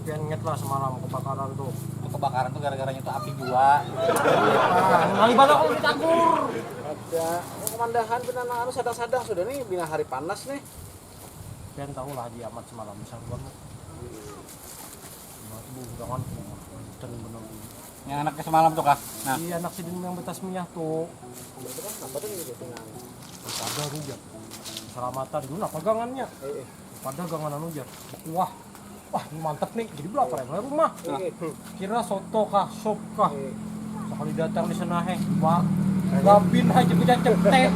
Pian ingat lah semalam kebakaran tuh. Itu kebakaran tuh gara-garanya tuh api jua. Nalibat aku di campur. Ada, oh kemandahan pina nang anu sadang-sadang sudah nih bina hari panas nih. Pian tahu lah Haji Amat semalam saruan tuh. Batu bujangan dan benar ini. Yang anaknya semalam tuh kah? Nah. Iya anak sidin yang betasmiyah tuh. Itu kan apa tuh ini pina? Pada rujar. Salamatan dulu lah pagangannya. Pada gangan anu jar. Kuah. Wah, ini mantep nih. Jadi belum apa ya rumah. Kira soto kah, sop kah. Sekali datang di sana heh, Pak. Gabin aja kita cetek.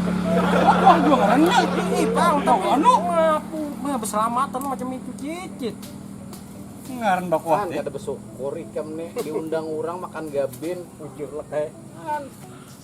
Wah, dua orangnya ini, Pak. Udah anu ngapu. Nah, berselamatan macam itu cicit. Ngaran bakuah teh. Kada bersyukur ikam nih diundang orang makan gabin, ujur lek.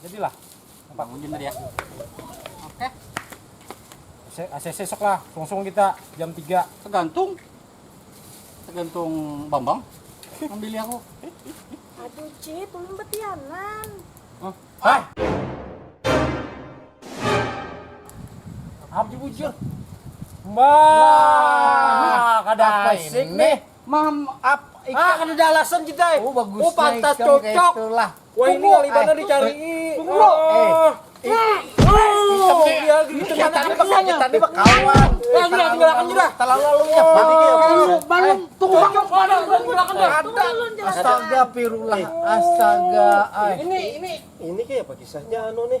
Jadilah. Nampak hujan tadi ya. Oke. ACC sok lah, sungsung kita jam 3. Tergantung. Tergantung Bambang. Ambil aku. Aduh, Cit, ulun betianan. Hah? Hah? Abdi bujur. Mbah, kada Apa asik ini? nih. Mam, ap, Ah, ikan. kada ada alasan kita. eh. Oh, bagus. Oh, pantas cocok. Itulah. Wah ini ngalih banar dicarii. Bro. Tadi bekawan. Terlalu lalunya. Balum tunggu Astaga pirullah. Astaga. Ini ini ini kayak apa kisahnya anu nih.